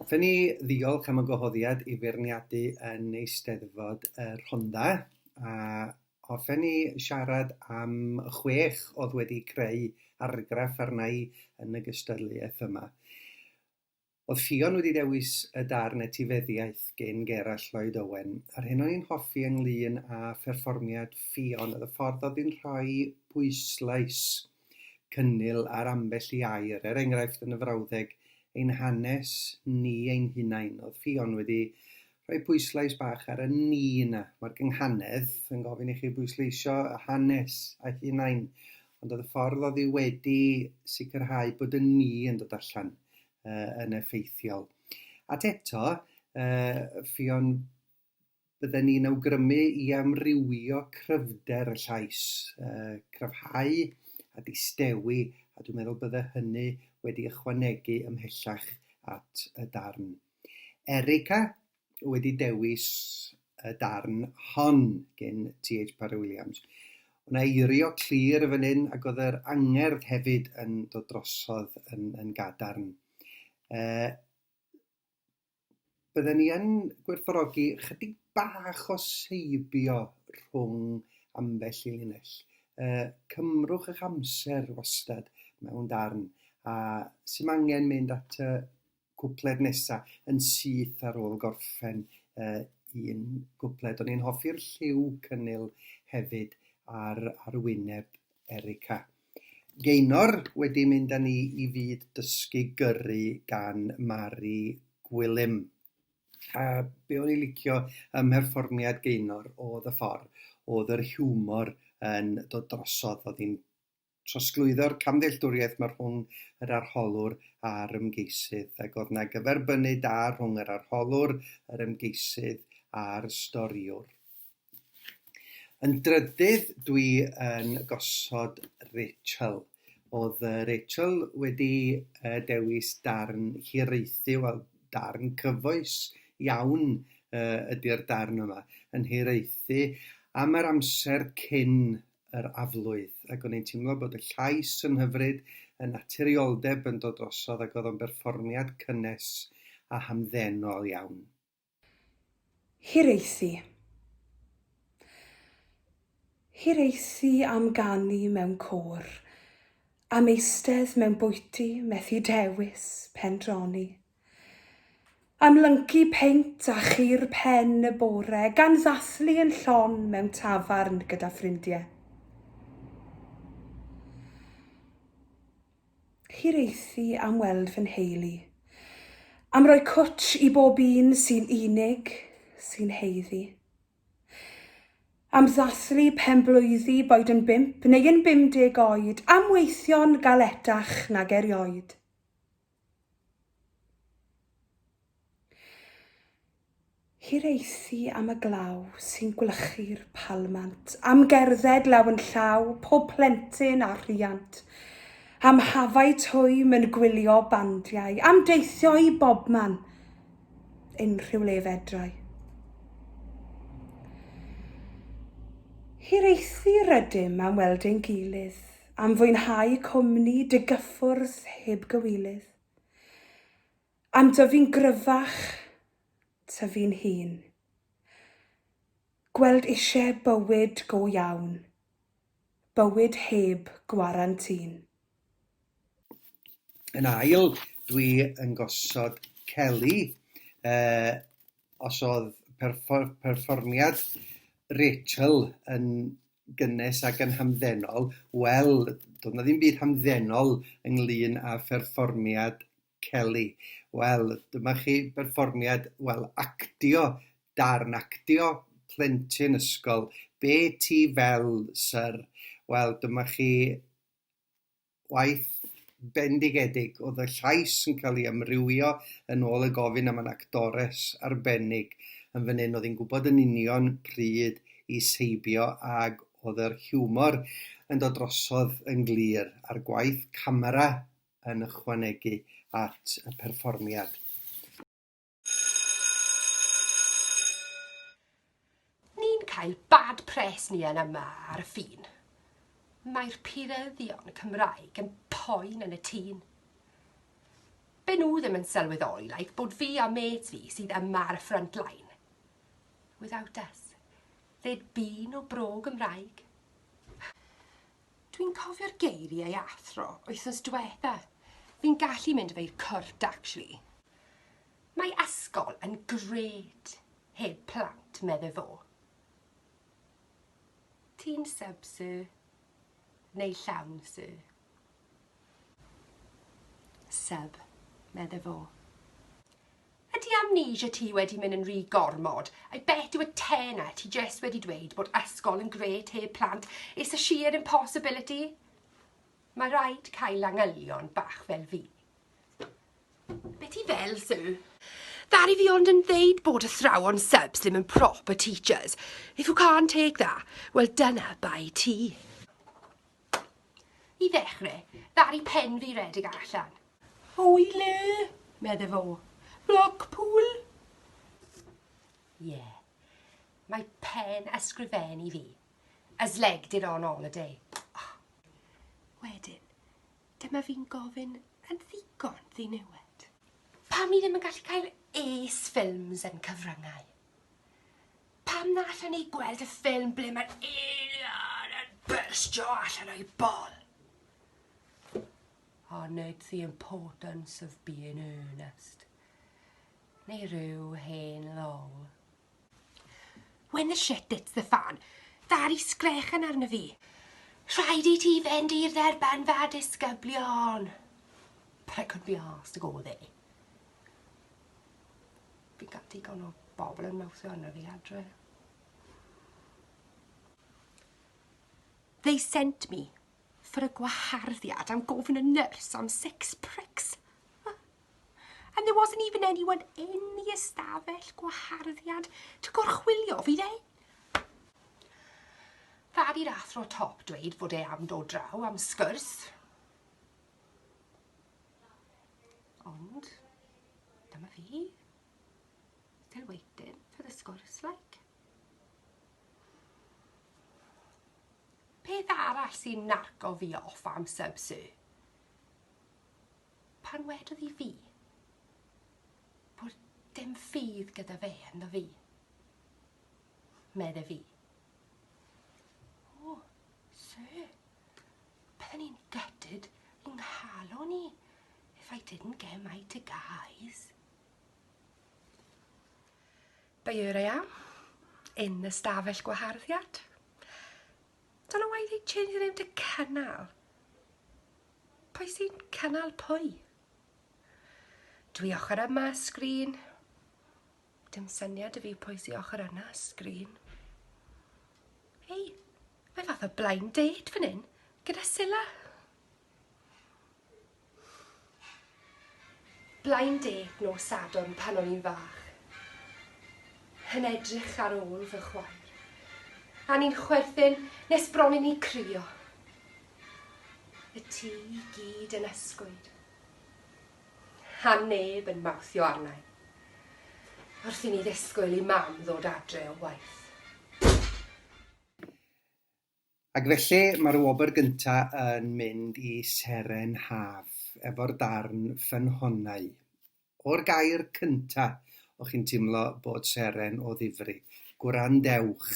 Hoffen ni ddiolch am y gwahoddiad i feirniadu yn Eisteddfod y Rhondda a hoffen ni siarad am chwech oedd wedi creu argraff arna i yn y gystadleuaeth yma. Oedd Ffion wedi dewis y darn etifeddiaeth gin Gerallt Lloyd Owen, a'r hyn o'n i'n hoffi ynglŷn â pherfformiad Ffion oedd y ffordd oedd hi'n rhoi pwyslais cynnil ar ambell i air, er enghraifft yn y frawddeg 'Ein Hanes Ni Ein Hunain', oedd Ffion wedi rhoi pwyslais bach ar y ni yna. Mae'r gynghanedd yn gofyn i chi bwysleisio y hanes a'ch hunain, ond oedd y ffordd oedd hi wedi sicrhau bod y ni yn dod allan uh, yn effeithiol. At eto, uh, ffion bydden ni'n awgrymu i amrywio cryfder y llais, uh, cryfhau a distewi, a dwi'n meddwl bydde hynny wedi ychwanegu ymhellach at y darn. Erica wedi dewis y darn hon gin TH Parry Williams. Oedd 'na eirio clir yn fan hyn ac oedd yr angerdd hefyd yn dod drosodd yn, yn gadarn. Uh, bydden ni yn gwerthorogi chydig bach o seibio rhwng ambell i linell. Uh, cymrwch eich amser wastad mewn darn a sy'n angen mynd at y cwpled nesa yn syth ar ôl gorffen uh, un gwpled. O'n i'n hoffi'r lliw cynnil hefyd ar, ar wyneb Erica. Geinor wedi mynd â ni i fyd dysgu gyrru gan Mari Gwilym. A be o'n i'n licio ym mherfformiad Geinor oedd y ffordd oedd yr hiwmor yn dod drosodd, oedd hi'n Trosglwyddo'r camddealltwriaeth ma rhwng yr arholwr a'r ymgeisydd, ac o'dd 'na gyferbynnu da rhwng yr arholwr, yr ymgeisydd a'r storïwr. Yn drydydd dwi yn gosod Rachel. O'dd Rachel wedi dewis darn hiraethu, wel darn cyfoes iawn ydi'r darn yma, yn hiraethu am yr amser cyn yr aflwydd, ac o'n i'n teimlo bod y llais yn hyfryd, y naturioldeb yn dod drosodd ac oedd o'n berfformiad cynnes a hamddenol iawn. Hiraethu. Hiraethu am ganu mewn côr, am eistedd mewn bwyty, methu dewis, pendroni. Am lyncu peint a chur pen y bore, gan ddathlu yn llon mewn tafarn gyda ffrindie. Hiraethu am weld fy nheulu. Am roi cwtsh i bob un sy'n unig, sy'n haeddu. Am ddathlu penblwyddi, boed yn bump neu yn 50 oed, am weithio'n galetach nag erioed. Hiraethu am y glaw sy'n gwlychu'r palmant, am gerdded law yn llaw pob plentyn a rhiant, am hafau twym yn gwylio bandiau, am deithio i bobman, unrhyw le fedrai. Hiraethu rydym am weld ein gilydd, am fwynhau cwmni dy gyffwrdd heb gywilydd. Am dyfu'n gryfach, tyfu'n hŷn. Gweld eisiau bywyd go iawn, bywyd heb gwarantin. Yn ail, dwi yn gosod celi os oedd perfform- perfformiad Rachel yn gynnes ac yn hamddenol, wel, doedd na ddim byd hamddenol ynglyn â pherfformiad Kelly. Wel, dyma chi berfformiad, wel, actio, darn actio plentyn ysgol. Be ti fel, syr? Wel, dyma chi gwaith bendigedig oedd y llais yn cael ei amrywio yn ôl y gofyn am yn actores arbennig yn fan hyn oedd hi'n gwybod yn union pryd i seibio ag oedd yr hiwmor yn dod drosodd yn glir a'r gwaith camera yn ychwanegu at y perfformiad. Ni'n cael bad pres ni yn yma ar y ffin. Mae'r puryddion Cymraeg yn poen yn y tîn. Be nhw ddim yn sylweddoli, like, bod fi a mêt fi sydd yma ar y front line. Without us, there'd be no bro Gymraeg. Dwi'n cofio'r geiriau athro wythnos dwetha. Fi'n gallu mynd efo i'r cwrt actually. Mae ysgol yn grêt heb plant, medde fo. Ti'n sub sir? Neu llawn sir? Sub, medde fo. Ydy amnesia ti wedi mynd yn ry gormod? I bet yw y te 'na, ti jest wedi dweud bod ysgol yn gret heb plant, it's a sheer impossibility. Mae rhaid cael langylion bach fel fi. Be ti fel, Sue? Ddaru fi ond yn ddeud bod athrawon subs ddim yn proper teachers. If you can't take that, wel dyna bai ti. I ddechrau, ddaru pen fi redeg allan. Hwy le! medde fo. Blackpool? Ie. Mae pen ysgrifennu fi. As leg did on holiday. Wedyn, dyma fi'n gofyn yn ddigon ddiniwed. Pam ni ddim yn gallu cael ace films yn cyfryngau? Pan nathon ni gweld y ffilm ble ma'r alien yn byrstio allan o'i bol. On it's the importance of being earnest. Neu rhyw hen lol. When the shit hits the fan, ddaru sgrechen arno fi. Rhaid i ti fynd i'r dderbynfa disgyblion. But I couldn't be arsed to go there. Bydd gan ddigon o bobl yn mawrthio arna fi adre. They sent me for a gwaharddiad am gofyn y nyrs am six pricks. And there wasn't even anyone in the ystafell gwaharddiad to gorchwilio fi dde. Dad i'r athro top dweud fod e am dod draw am sgwrs. Ond, dyma fi. Still waiting for the sgwrs, like. Peth arall sy'n narco fi off am sub sy. Pan wedodd i fi bod dim ffydd gyda fe ynddo fi. Medde fi. O, oh, sir. Bydden i'n gutted i nghalon i if I didn't get my two guys. But here I am, in the stafell gwaharddiad. Don't know why they changed the name to Cynnal. Pwy sy'n cynnal pwy? Dwi ochr yma sgrin. Dim syniad 'da fi pwy sy ochr yna sgrin. Hei, mae fath o blind date fan hyn, gyda Sila. Blind date nos Sadwrn pan o'n i'n fach. Yn edrych ar ôl fy chwaer. A ni'n chwerthin nes bron i ni crio. Y tŷ i gyd yn ysgwyd. a neb yn mawthio arnai, wrth i mi ddisgwyl i Mam ddod adre o waith. Ac felly, mae'r wobr gynta yn mynd i Seren Haf, efo'r darn Ffynhonnau. O'r gair cynta, o'ch chi'n timlo bod Seren o ddifri. Gwrandewch!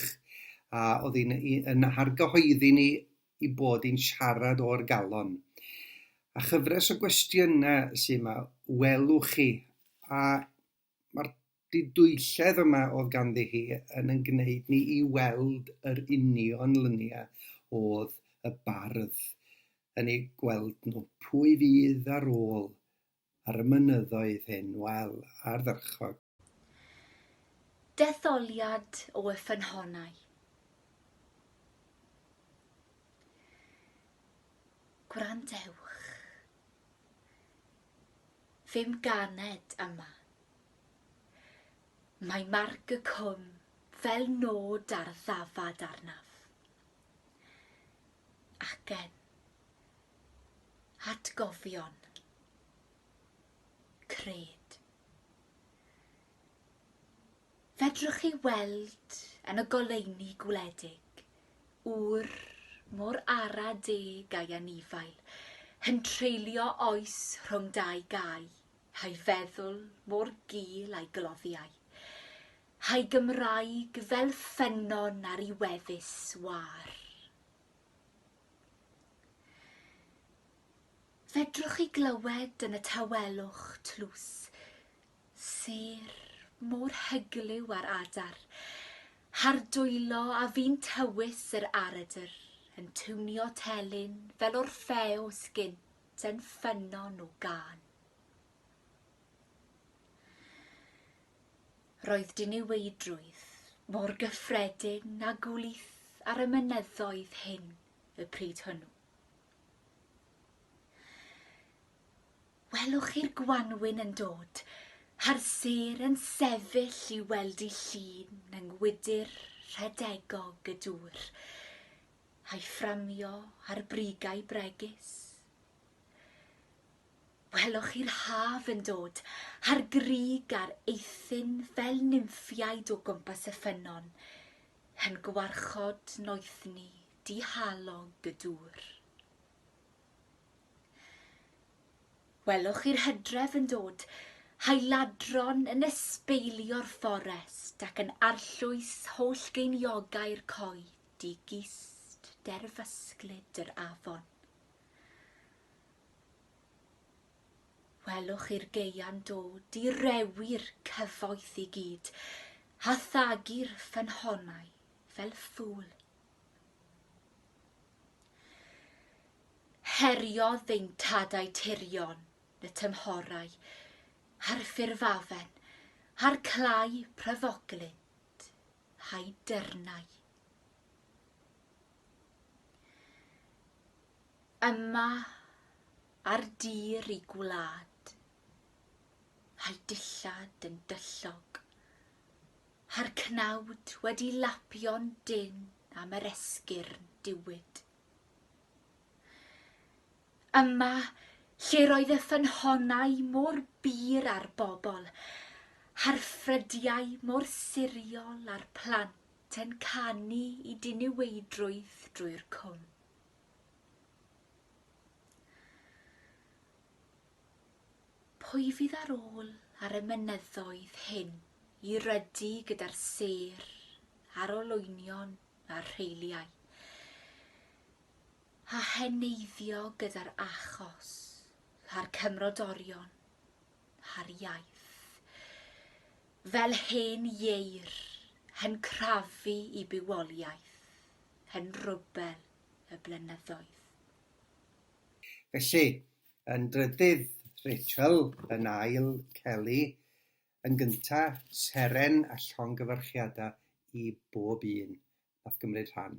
A oedd hi'n yn argyhoeddi ni i bod yn siarad o'r galon. A chyfres o gwestiynau sy'n ma, welwch chi, a mae'r didwylledd yma oedd ganddi hi yn yn gwneud ni i weld yr union lyniau oedd y bardd yn ei gweld nhw. Pwy fydd ar ôl ar y mynyddoedd hyn? Wel, ardderchog. Detholiad o y ffynhonnau. Gwrandewch. Fe'm ganed yma. Mae marc y cwm fel nod ar ddafad arnaf. Acen. Atgofion. cred. Fedrwch chi weld yn y goleuni gwledig ŵr mor ara deg a'i anifail, yn treulio oes rhwng dau gau, a'i feddwl mor gul a'i gloddiau, a'i Gymraeg fel ffynnon ar i weddus wâr. Fedrwch chi glywed yn y tawelwch tlws sêr mor hyglyw a'r adar, Har dwylo a fi'n tywys yr aredr yn tiwnio telyn fel Orffews gynt yn ffynnon o gân. Roedd diniweidrwydd mor gyffredin a gwlith ar y mynyddoedd hyn y pryd hwnnw. Welwch chi'r gwanwyn yn dod a'r sêr yn sefyll i weld i llun yng ngwydr rhedegog y dŵr, a'i fframio ar brigau bregus. Welwch chi'r haf yn dod, a'r grug a'r eithin fel nymffiaid o gwmpas y ffynnon, yn gwarchod noethni dihalog y dŵr. Welwch chi'r hydref yn dod, a'i ladron yn esbeilio'r fforest ac yn arllwys holl geiniogau'r coed i gist derfysglyd yr afon. Welwch i'r geian do, direwi'r cyfoeth i gyd, a thagu'r ffynhonnau fel ffŵl. Heriodd ddeintadau tirion y tymhorau, a'r ffurfafen, a'r clai pryfoglyd, a'i dyrnau. Yma ar dir y gwlad, â'i dillad yn dyllog, â'r cnawd wedi lapio'n dynn am yr esgyrn diwyd. Yma lle'r oedd y ffynhonnau mor bur â'r bobl, â'r ffrydiau mor siriol a'r plant yn canu i diniweidrwydd drwy'r cwm. Pwy fydd ar ôl ar y mynyddoedd hyn i rydu gyda'r sêr a'r olwynion a'r rheiliau, a heneiddio gyda'r achos a'r cymrodorion darpariaeth. Fel hen ieir, hen crafu i bywoliaeth, hen rwbel y blynyddoedd. Felly, yn drydydd, Rachel, yn ail, Kelly, yn gynta, seren a llongyfarchiada i bob un nath gymryd rhan.